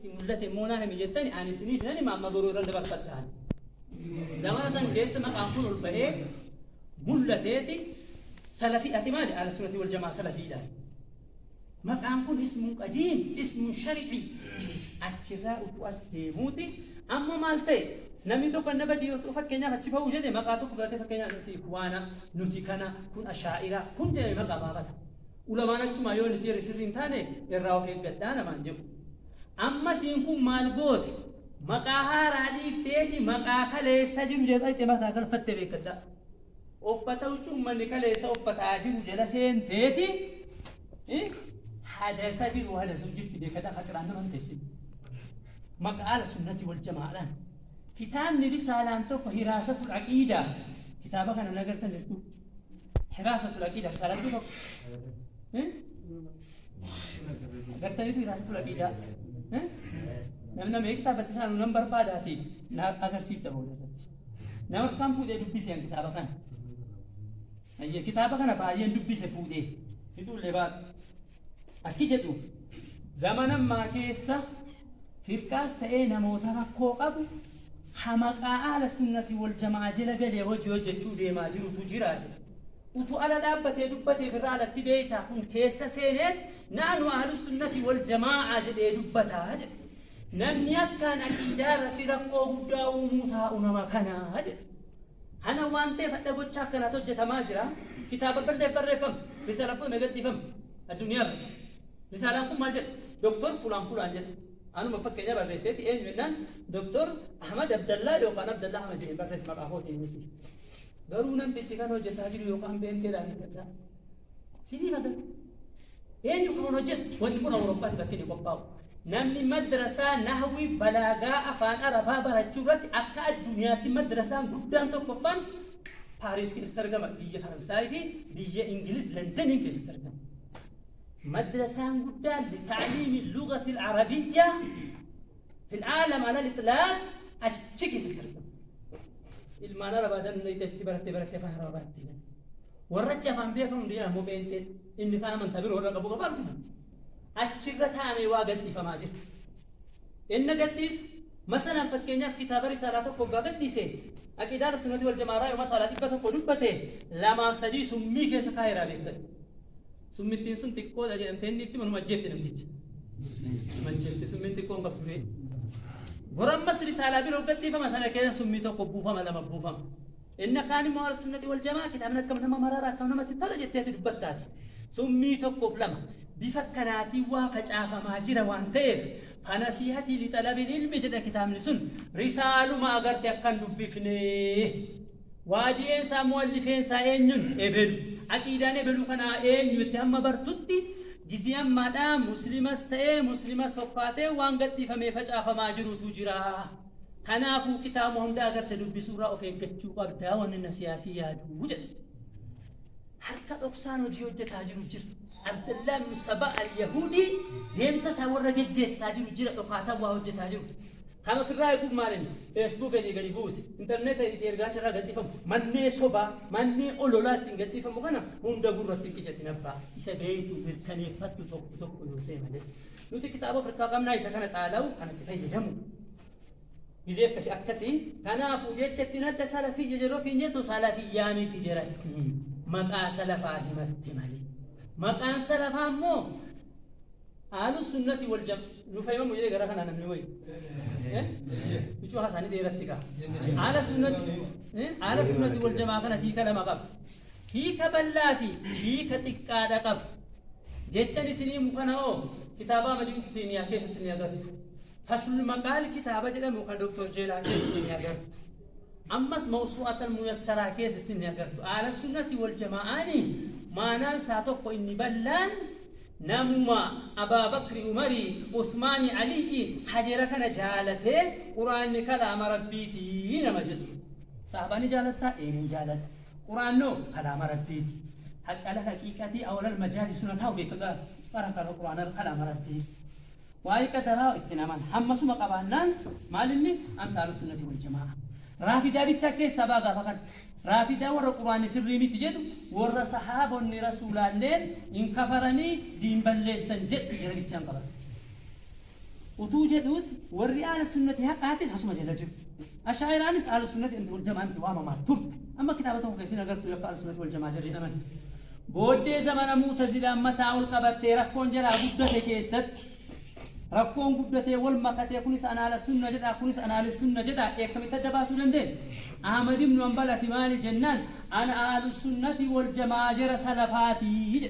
hin mul'ate immoo naa himi jettani ani isiniif nan hima amma garuu irra dabarfattaan. Zamana san keessa maqaan kun ol ba'ee mul'ateeti salafii ati maali ala sunati wal jamaa salafiidhaan. Maqaan kun ismuun qadiim ismuun shari'ii achirraa utuu as deemuuti amma maal ta'e namni tokko anna badii yoo fakkeenyaaf achi ba'uu jedhe maqaa tokko fudhatee fakkeenyaaf nuti ikwaana nuti kana kun ashaa'ira kun jedhame maqaa baafata. Ulamaan achumaa yoo inni seera sirrii hin taane irraa of eeggadhaa namaan jedhu. Amma siin kun maal goote? Maqaa haaraa dhiifteeti maqaa kaleessa jiru jala itti mataa galfattee beekkadhaa. Uffata huccuu ummanni kaleessa uffataa jiru jala seenteeti hadasa biru hadasuu jirti beekkadhaa kaxiraan nama hin teessin. Maqaa ala sunnati wal jamaadhaan. Kitaabni risaalaan tokko hiraasatul aqiidaa kitaaba kana nagartan jirtu. Hiraasa tulaqii dha. Salatii tokko. Agartaniitu hiraasa tulaqii dha. Namna mee kitaaba itti saanu nan barbaadaati na agarsiifta booda irratti. Nama kan fuudhee dubbise an kitaaba kana. Ayyee kitaaba kana baay'een dubbise fuudhee. Fixuullee baatu. Akki jedhu, Zamana ammaa keessa firqaas ta'ee namoota rakkoo qabu ka maqaa Ahlassunnah fi Waljama'aa jela galee hojii hojjachuu deemaa jirutu jira jedha. Utuu ala dhaabbatee dubbatee firraa alatti beeytaa kun keessa seeneet Nahnu Ahlussunnati Waljama'aa jedhee dubbata jedha. Namni akkaan aqiidaa irratti rakkoo guddaa uumuu taa'u nama kana jedha. Kana waan ta'eef hadha gochaa akkanaatu hojjatamaa jira. Kitaaba birdeef barreeffame. Risaalaan fudhame gadhiifame. Addunyaa bira. Risaalaan kun maal jedha? Doktor fulaan fulaan jedha. Anuma fakkeenyaa barreesseeti eenyu jennaan Doktor Ahmad Abdallaa yookaan Abdallaa Ahmad jedheen barreesse maqaa kootiin miti. Garuu namtichi kan hojjataa jiru yookaan beenteedhaa hin gaddaa. Sinii haga. Eenyu kan hojjetu wanti kun Awurooppaatti bakki inni qophaa'u. Namni madrasaa nahwi balaagaa afaan Arabaa barachuu irratti akka addunyaatti madrasaan guddaan tokkoffaan Paariis keessatti argama. Biyya Faransaay fi biyya Ingiliz Londoniin keessatti argama. Madrasaan guddaan litaaliimi lugatil Arabiyyaa fil aalam ala litlaaq achi keessatti argama. Ilmaan Arabaa danda'ite achitti barattee barattee afaan Arabaa barattee. Warra achi afaan beekan hundi jedha ammoo pheenxee inni kaan amantaa biroo irra qabu qofa miti matti. Achi irra taa'amee waa gadhiifamaa jira. Enna gadhiisu masalan fakkeenyaaf kitaaba risaalaa tokko oggaa gadhiise aqiidaa ahlusunnati wal jamaaraa yoo masaalaa 100 dubbate lamaaf sadii summii keessa kaayeraa beektan. Summittiin sun xiqqoodha jedhamtee inni itti manuma ajjeefte namticha. Mancheefte summiin xiqqoon qabdu bee. Bor ammas risaalaa biroo gadhiifama sana keessa summii tokko buufama lama buufama. Inna kaan immoo Ahlusunnati Waljamaa kitaabni akkam nama marara akkam namatti tola jettee ati dubbatta ati. Summii tokkoof lama. Bifa akkanaatiin waa facaafamaa jira waan ta'eef Fanasihatii lixalabil ilmi jedha kitaabni sun risaaluma agarte akka hin dubbifne. Waadi'een isaa mu'allifeen isaa eenyun? Ebelu. Aqiidaan ebelu kanaa eenyu itti hamma bartutti gizii ammaadhaa muslimas ta'ee muslimas fokkaatee waan gadhiifamee facaafamaa jirutu jira. Kanaafuu kitaabuma hunda agarte dubbisuurraa of eeggachuu qabda wanni na siyaasii yaadu jedhe. Harka dhoksaan hojii hojjetaa jiru jira. Abdallaa ibnu Sabaa al-Yahuudii deemsa isaa warra geggeessaa jiru jira dhokaataan waa hojjetaa jiru. Kan ofirraa eeguuf maalin Facebook keetii gadi buusi, interneeta itti ergaan sharraa gadhiifamu, mannee sobaa, mannee ololaa ittiin gadhiifamu kana hunda gurratti hin qicatin abbaa. Isa beeytu, mirkaneeffattu tokko tokko yoo ta'e malee. Nuti kitaaba of irkaa qabnaa isa kana xaalawu kanatti fayyadamu gizee akkasi akkasi kanaafu jecha ittiin adda salafii jejero ofiin jettu salafiyyaa miti jeratti maqaa salafaa himatti mali maqaan salafaa immoo aalu sunnati wal jam nu fayyamu jedhee gara kanaa namni wayi bicuu hasaanii dheeratti kaa aala sunnati aala sunnati wal jamaa kana tiika lama qaba Hiika bal'aa fi hiika xiqqaa dha qab. Jechan isinii mu kana hoo kitaabaa Malik Kimiyaa keessatti ni agartu. Faslul Maqaal kitaaba jedhamu kan Dr. Jeelaan keessatti ni agartu. Ammas Mawsu'at Al-Muyassaraa keessatti ni agartu. Ahlassunnati wal Jamaa'aani maanaan saa tokko inni bal'aan namuma Abaa Bakri, Umari, Uthmaani, Aliyyi, Hajera kana jaalatee Qur'aanni kalaama Rabbiiti nama jedhu. Sahaabaa ni jaalattaa? Ee nan jaaladha. Qur'aannoo kalaama Rabbiiti. Haqi alal haqiiqati aw alal majaazi sun hata'u beeka ga ara kana Qur'aana kalaama Rabbiiti. Waa'ee qadaraa itti hin amana. Hammasuma qabaannaan maal inni amsaalu sunnati wal jamaa'a. Raafidaa bichaa keessaa ba'a gaafa kana. Raafidaa warra Qur'aanni sirrii miti jedhu warra sahaabonni Rasuulaalleen hin kafaranii diin balleessan jedhu jara bichaan qabata jechuudha. utuu jedhuuti warri aala sunnati har'aatis asuma jala jiru. Ashaa'iraanis aala sunnati anti wal jamaa miti waamamaa turte. Amma kitaaba tokko keessa hin agartu yakka aala sunnati wal jamaa jarri jedhaman. Booddee zamana mu'tazilaan mataa ol qabattee rakkoon jalaa guddate keessatti rakkoon guddatee wal makatee kunis an aala sunna jedhaa kunis an aali sunna jedhaa eekkamitti adda baasuu dandeenye? Ahmad ibnu Hanbal ati maali jennaan ana aalu sunnati wal jamaa jara salafaati jedhe.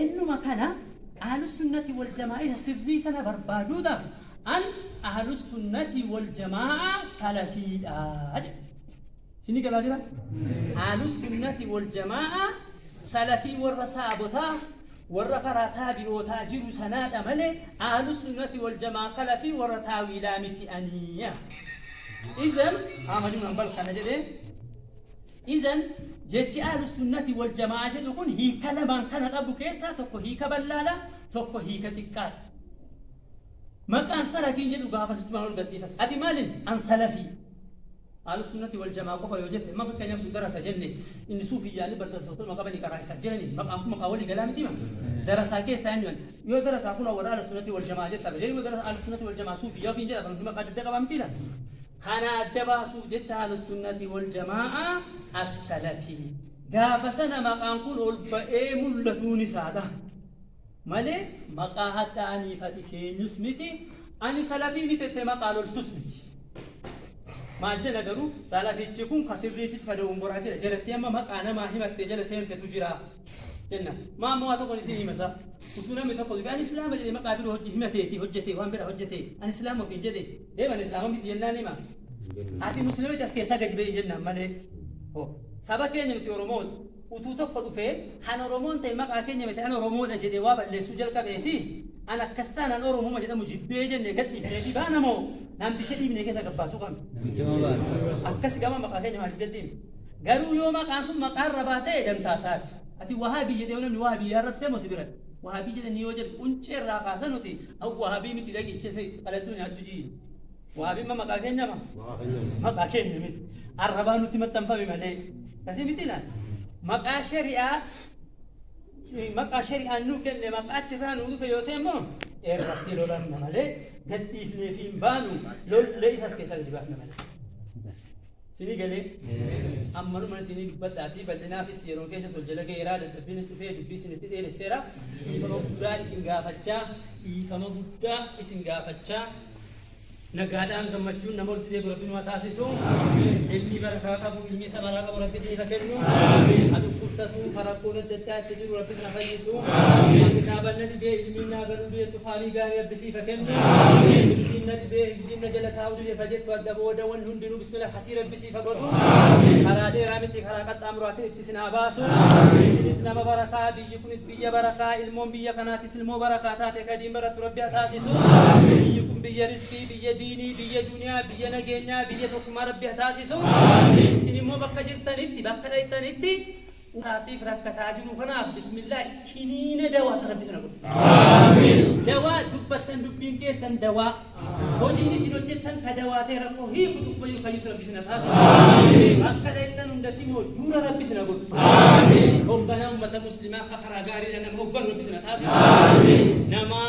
Ennuma kana Ahlusunnati wal Jama'aa isa sirrii sana barbaaduudhaaf an Ahlusunnati wal Jama'aa salafiidha jedhe. Isinii galaa jira? Ahlusunnati wal Jama'aa salafii warra saabotaa warra karaa taabi'ootaa jiru sanaadha malee Ahlusunnati wal Jama'aa kalafii warra taawiilaa miti ani. Izan Ahmad ibn Hanbal kana jedhe Izan, jechi Ahlussunnati wal jama'aa jedhu kun hiika lamaan kana qabu keessaa tokko hiika bal'aadha, tokko hiika xiqqaadha. Maqaan Salafiin jedhu gaafas ichumaan ol gadhiifata. Ati maalin? An Salafii. Ahlussunnati wal jama'aa qofa yoo jette, amma fakkeenyaaf nuti darasa jenne, inni Suufiyyaan ni bardarsootuma qabani karaa isaa jirani, maqaan kun maqaa walii galaa mitiima? Darasaa keessaa eenyu an? Yoo darasaa kunoo warra Ahlussunnati wal jama'aa jetta, deebi'uma darasa Ahlussunnati wal jama'aa Suufiyyaa ofiin jedha, bar hundi maqaa adda addaa qabaa mitiila? Kana adda baasuuf jecha Ahlussunnati wal Jamaa'aa As-Salafi. Gaafa sana maqaan kun ol ba'ee mul'atuun isaa taha. Malee maqaa hadha'aa niifati keenyus miti, ani Salafii miti jettee maqaa loltus miti. Maal jenna garuu Salafichi kun ka sirriitiif ka dogongoraa jira. Jarattii amma maqaa namaa himattee jala seentetu jira jenna. Maa amma waa tokkon isin hima sa? Utuu namni tokko dhufee ani Islaama jedhee maqaa biroo hojje himateeti hojjetee waan biraa hojjetee ani Islaama ofiin jedhee Eem ani islaama miti jennaan hima. Ati muslima miti as keessaa gadi bahi jennaan malee. Ho. Saba keenya nuti Oromoodha. Utuu tokko dhufee kan Oromoon ta'e maqaa keenya miti an Oromoodha jedhee waa balleessuu jalqabeeti an akkas taanaan Oromuma jedhamu jibbee jennee gad dhiifneeti baana moo namticha dhiibnee keessaa gabbaasuu qabna. Akkas gama maqaa keenya maaliif gad dhiifne. Garuu yoo maqaan sun maqaa irra baatee dantaa isaati. Ati wahaabii jedhee yoo namni wahaabii arrabsee moo si biratti. Wahaabii jedhanii yoo jedhu quncee irraa kaasa nuti An wahabii miti dhaqi cese qaladhu nyaadhu jii. Wahabiin ma maqaa keenya ma? Maqaa keenya miti. Arrabaa nutti maxxanfame malee. Kasi miti laal. Maqaa shari'aa maqaa shari'aan nuu kenne maqaa achirraa nuu dhufe yoo ta'e immoo irratti lolamna malee gadhiifnee fi hin baanu lollee isas keessaa gadi baafna malee. Isinii galee? Ammanuman isinii dubbadhaatii bal'inaafis yeroon keenyas wal jala ga'eera, dadhabbiinis dhufee dubbii isinitti dheeresseera. Dhiifama guddaa isin gaafachaa, dhiifama guddaa isin gaafachaa, nagaadhaan gammachuun nama walitti deebi'u Rabbi nu haa taasisu. Ilmi barakaa qabu, ilmi samaraa qabu Rabbi isiniif haa kennu. Haa dhukkubsatu, haa rakkoon adda addaa itti jiru Rabbi isin haa fayyisu. Haa kitaaban na dhibee ilmiin naa galuu biyya tufaanii gaarii Rabbi siif haa kennu. Ilmiin na dhibee Isiin na jala taa'uu dide ka jettu adda booda wanni hundinuu bismila hatii rabbi siif ha godhu karaa dheeraa miti karaa qaxxaamuraatiin itti isin haa baasu isinis nama barakaa biyyi kunis biyya barakaa ilmoon biyya kanaatis ilmoo barakaa taate ka diin barattu rabbi ha taasisu biyyi kun biyya rizqii biyya diinii biyya duniyaa biyya nageenyaa biyya tokkummaa rabbi ha taasisu isin immoo bakka jirtanitti bakka dhayxanitti Dhukaateef rakkataa jiru kanaaf bismillaahi kiniina dawaa san rabbi sana godhu. Aamiin. Dawaa dubbattan dubbiin keessan dawaa. Hojiin isin hojjettan ka dawaa ta'e rakkoo hiiku tuffayyuu fayyus rabbi sina taasisu. Aamiin. Bakka dhayxan hundatti immoo duura rabbi sina godhu. Aamiin. Hogganaa ummata muslimaa ka karaa gaariidhaan nama hogganu rabbi sina taasisu. Aamiin. Nama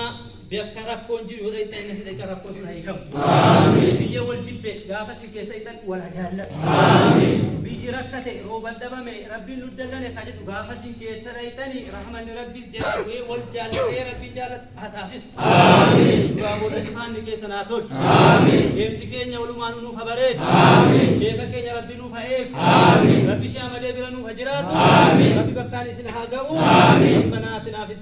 Bakka rakkoon jiru yoo dhaqxan innis dhaqxa rakkoo sun haa hiikamu. Biyya wal jibbe gaafa isin keessa dhaqxan wal haa jaallatu. Biyyi rakkate rooban dhabame rabbiin nu dallane ka jedhu gaafa isin keessa dhaqxani rahmanni rabbiis jala bu'ee wal jaallatee rabbii jaallat haa taasisu. Duraa booda imaanni keessa naa tolu. Deemsi keenya walumaan nuuf haa bareedu. Sheeka keenya rabbi nuuf haa eegu. Rabbi shaamadee bira nuuf haa jiraatu. Rabbi bakkaan isin haa ga'u. Rabbi banaatiin haaf